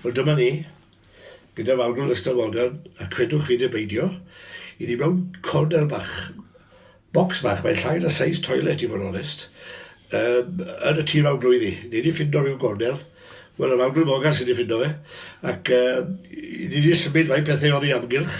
Wel dyma ni, gyda Fawrgl Ystawoda, a credwch fi neu beidio, i ni mewn cornel bach, bocs bach, mae'n llai na seis toilet i fod onest, um, yn y tîr fawr glwyddi. Ni wedi ffindo rhyw gornel, wel y Fawrgl Mogan sydd wedi ffindo fe, ac um, ni wedi symud fai pethau oddi amgylch,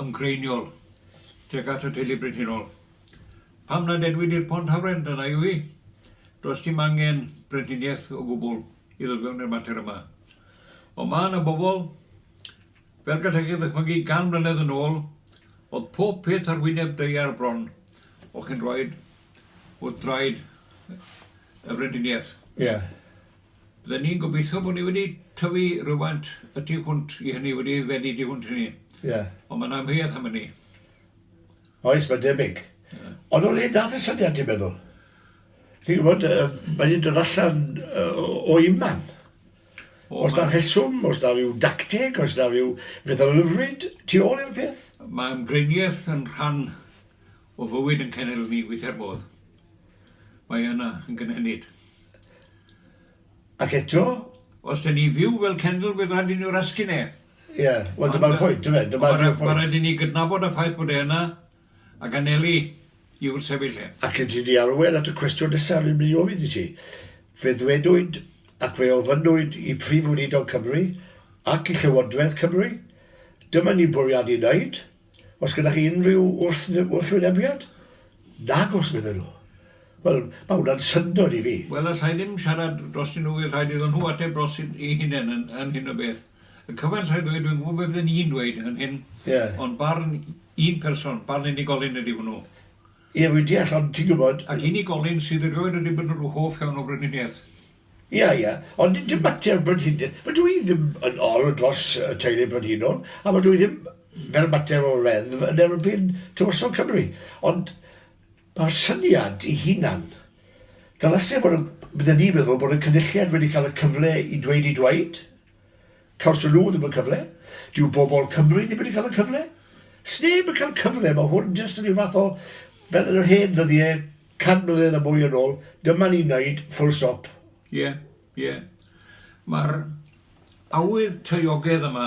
ymdreiniol tuag at y teulu brenhinol. Pam nad edwid i'r Pont Hafren, dyna yw hi. Does dim angen brenhiniaeth o gwbl i ddod fewn i'r mater yma. Ond mae yna bobl, fel gallech chi ddychmygu gan mlynedd yn ôl, oedd pob peth ar wyneb deiar bron, o chi'n rhoed wrth draed y brenhiniaeth. Ie. Ry'n ni'n gobeithio bod ni wedi tyfu rywfaint y tu hwnt i hynny, wedi aeddfedu tu hwnt i hynny. Ie. Ond mae'n amheuaeth am hynny. Oes, mae'n debyg. Ond o le dath y syniad, ti'n meddwl? Ti'n gwybod, mae wedi dod allan o iman. Os da rheswm, os da rhyw dacteg, os da rhyw fetholrwyd tu ôl i'r peth? Mae ymgreiniaeth yn rhan O fywyd yn cenedl ni weithia'r modd mae yna yn gynhenid. Ac eto? Os dan ni'n fyw fel cenedl bydd rhaid i ni rasgu'n e. Ie, wel dyma'r pwynt, dyfe? Ond mae rhaid, mae rhaid i ni gydnabod y ffaith bod e yna ac anelu i wrthsefyll e. Ac yn tynnu arwain at y cwestiwn nesaf rwy'n mynd i ofyn i ti, fe ddwedwyd ac fe ofynnwyd i Prif Weinidog Cymru ac i Llywodraeth Cymru, dyma ni'n bwriadu wneud, Oes gyda chi unrhyw wrthwynebiad? Nagos, medden nhw. Wel, mae hwnna'n syndod i fi. Wel, alla i ddim siarad drostyn nhw, fydd rhaid iddyn nhw ateb dros eu hunain yn, yn hyn o beth. Y cyfaill rhaid ddweud, dwi'n gwybod beth fydden i'n dweud yn hyn, yeah. ond barn un person, barn unigolyn ydy hwnnw. Ie, yeah, fi'n deall, ond ti'n gwybod... Ac unigolyn sydd erioed wedi bod yn rhyw hoff iawn o frenhiniaeth. Ia, ia, ond dim mater brenhines. Fydw i ddim yn ol dros y teulu brenhinol, a fydw i ddim, fel mater o reddf, yn erbyn Tywysog Cymru. Ond mae'r syniad ei hunan. Ddylase fod yn, bydden i'n meddwl, bod y Cynulliad wedi cael y cyfle i dweud eu dweud. Cawson nhw ddim y cyfle. Dyw bobl Cymru ddim wedi cael y cyfle. Sneb yn cael cyfle, mae hwn jyst yn rhyw fath o, fel yn yr hen ddyddiau, Cant mlynedd a mwy yn ôl, dyma ni'n neud, full stop. Ie, ie. Mae'r awydd taeogedd yma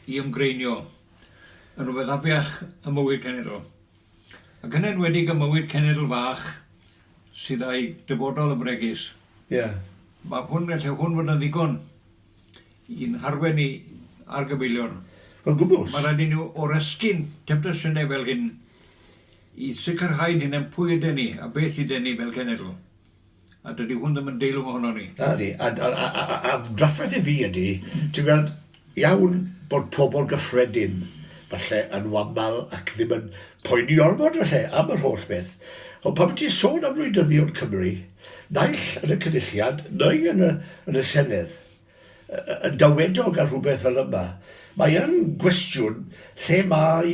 i ymgreinio yn rhywbeth afiach ym mywyd cenedl, ac yn enwedig ym mywyd cenedl fach sydd â'i dyfodol yn fregus. Ie. Mae hwn, gallai hwn fod yn ddigon i'n harwen ni ar gyfeillion. Yn gwbl. Mae rhaid i ni oresgyn temtasiynau fel hyn. i sicrhau'n hunain pwy yden ni a beth yden ni fel cenedl, a dydy hwn ddim yn deilwng ohonon ni. Nadi, a drafferth i fi ydy, ti'n gweld, iawn bod pobl gyffredin falle yn wamal ac ddim yn poeni ormod falle am yr holl beth, ond pan ti'n sôn am wleidyddion Cymru, naill yn y Cynulliad neu yn y Senedd, yn dawedog ar rhywbeth fel yma, mae yn gwestiwn lle mae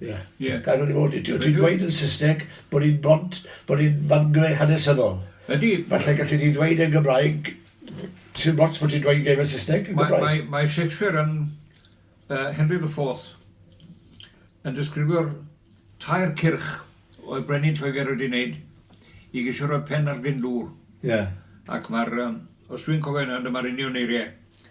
Ie, ie. Gair wedi bod. Ti'n dweud yn Saesneg bod hi'n bont, bod hi'n fangre hanesyddol. Ydy. Falle gallu di ddweud yn Gymraeg, ti'n bont bod ti'n dweud gair yn Saesneg yn Gymraeg. Mae, mae, Shakespeare yn uh, Henry the Fourth yn disgrifio'r tair cyrch oedd Brenin Lloegr wedi wneud i gisio rhoi pen ar gyn dŵr. Ie. Yeah. Ac mae'r, um, os dwi'n cofio yna, dyma'r union eiriau.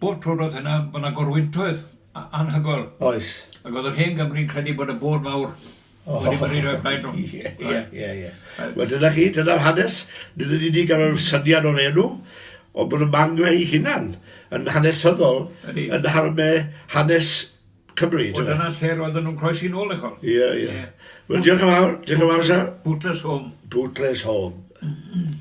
Bob tro roedd hynna yn bod 'na gorwyntoedd anhygoel. Oes. Ac oedd yr hen Gymru'n credu bod y bôd mawr wedi byrru roi plaid nhw. Ie, ie, ie, ie. Wel dyna chi, dyna'r hanes. Nid yn unig ar yr syniad o'r enw, ond bod y mangre ei hunan yn hanesyddol yn harme hanes Cymru. Wel dyna lle roedden nhw'n croesi nôl dych ch'wel'. Ie, ie. Wel diolch yn fawr, diolch yn fawr sir. Bootless Home. Bootless Home.